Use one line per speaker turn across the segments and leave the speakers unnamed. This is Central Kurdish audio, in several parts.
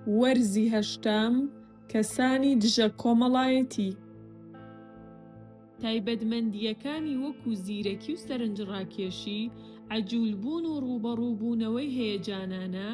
وەرزی هەشتەم، کەسانی دژە کۆمەڵایەتی. تایبەتمەندییەکانی وەکو زیرەکی و سەرنجڕاکێشی، عەجولبوون و ڕووبەڕووبوونەوەی هەیەجانانە،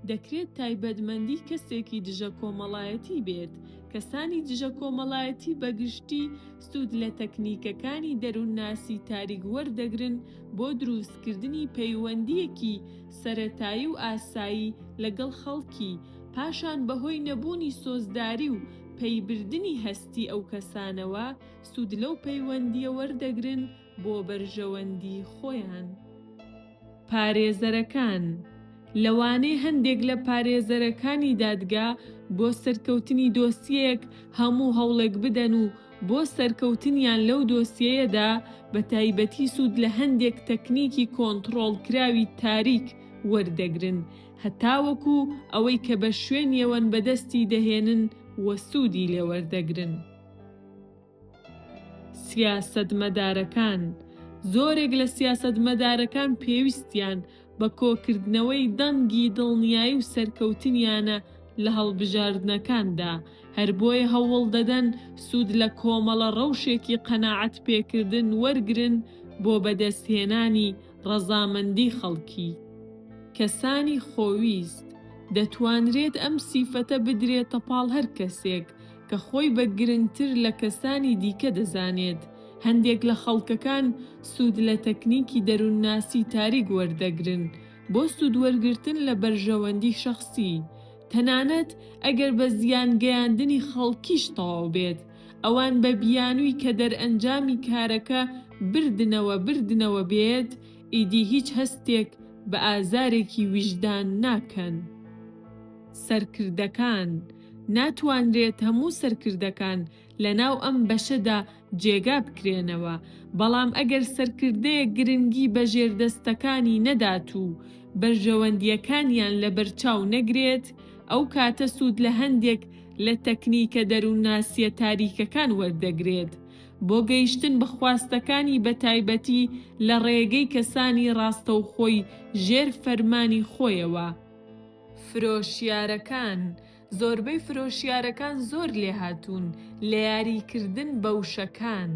دەکرێت تایبەتمەندی کەسێکی دژە کۆمەڵایەتی بێت، کەسانی دژە کۆمەڵایەتی بەگشتی سوود لە تەکنیکەکانی دەروونناسی تاریک وەردەگرن بۆ دروستکردنی پەیوەندییەکی سەرەتایی و ئاسایی لەگەڵ خەڵکی، پاشان بەهۆی نەبوونی سۆزداری و پەیبردنی هەستی ئەو کەسانەوە، سوود لەو پەیوەندییە وەردەگرن، بۆ بەرژەوەندی خۆیان. پارێزەرەکان، لەوانەیە هەندێک لە پارێزەرەکانی دادگا بۆ سەرکەوتنی دۆسیەیەک هەموو هەوڵێک بدەن و بۆ سەرکەوتنیان لەو دۆسیەیەدا بە تایبەتی سوود لە هەندێک تەکنیکی کۆنتڕۆڵکراوی تاریک وەردەگرن هەتاوەکو ئەوەی کە بە شوێنیەوەن بەدەستی دەهێنن و سوودی لێوەردەگرن. سیاسەتمەدارەکان، زۆرێک لە سیاسەتمەدارەکان پێویستیان بە کۆکردنەوەی دەنگی دڵنیایی و سەرکەوتنیانە لە هەڵبژاردنەکاندا، هەر بۆیە هەوڵ دەدەن سوود لە کۆمەڵە ڕەوشێکی قەناعەت پێکردن وەرگرن بۆ بەدەستهێنانی ڕەزامەندی خەڵکی. کەسانی خۆویست، دەتوانرێت ئەم سیفەتە بدرێتە پاڵ هەر کەسێک کە خۆی بە گرنگتر لە کەسانی دیکە دەزانێت، هەندێک لە خەڵکەکان سوود لە تەکنیکی دەروونناسی تاریک وەردەگرن بۆ سوودوەرگرتن لە بەرژەوەندی شەخسی، تەنانەت ئەگەر بە زیانگەیاندنی خەڵکیش تەواو بێت، ئەوان بە بیانووی کە دەرئەنجامی کارەکە بردنەوە بردنەوە بێت، ئیدی هیچ هەستێک بە ئازارێکی ویژدان ناکەن. سەرکردەکان. ناتوانرێت هەموو سەرکردەکان لەناو ئەم بەشەدا جێگا بکرێنەوە، بەڵام ئەگەر سەرکردەیەک گرنگی بە ژێردەستەکانی نەدات و بەرژەوەندییەکانیان لەبەرچاو نەگرێت، ئەو کاتە سوود لە هەندێک لە تەکنیکە دەروونناسییە تاریکەکان وەردەگرێت بۆ گەیشتن بە خواستەکانی بەتایبەتی لە ڕێگەی کەسانی ڕاستەوخۆی ژێر فەرمانی خۆیەوە. فرۆشیارەکان، زۆربەی فرۆشیارەکان زۆر لێهاتوون لە یاریکردن بە وشەکان.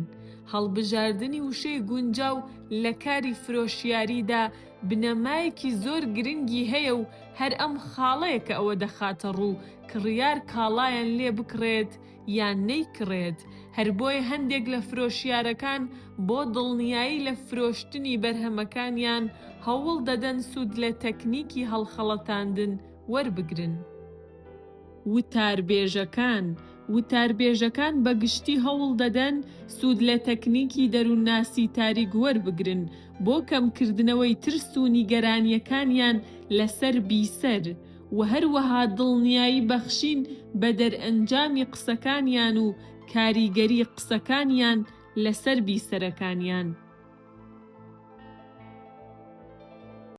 هەڵبژاردنی وشەی گونجاو لە کاری فرۆشیاریدا بنەمایەکی زۆر گرنگی هەیە و هەر ئەم خاڵەیە کە ئەوە دەخاتە ڕوو کڕیار کاڵایان لێ بکڕێت یان نەیکڕێت، هەر بۆیە هەندێک لە فرۆشیارەکان بۆ دڵنیایی لە فرۆشتنی بەرهەمەکانیان هەوڵ دەدەن سوود لە تەکنیکی هەڵخەڵەتاندن وەربگرن. وتاربێژەکان، وتاربێژەکان بە گشتی هەوڵ دەدەن سوود لە تەکنیکی دەروونناسی تاریک وەربگرن بۆ کەمکردنەوەی ترس و نیگەرانییەکانیان لەسەر بیسەر، و هەروەها دڵنیایی بەخشین بە دەرئەنجامی قسەکانیان و کاریگەری قسەکانیان لەسەر بیسەرەکانیان.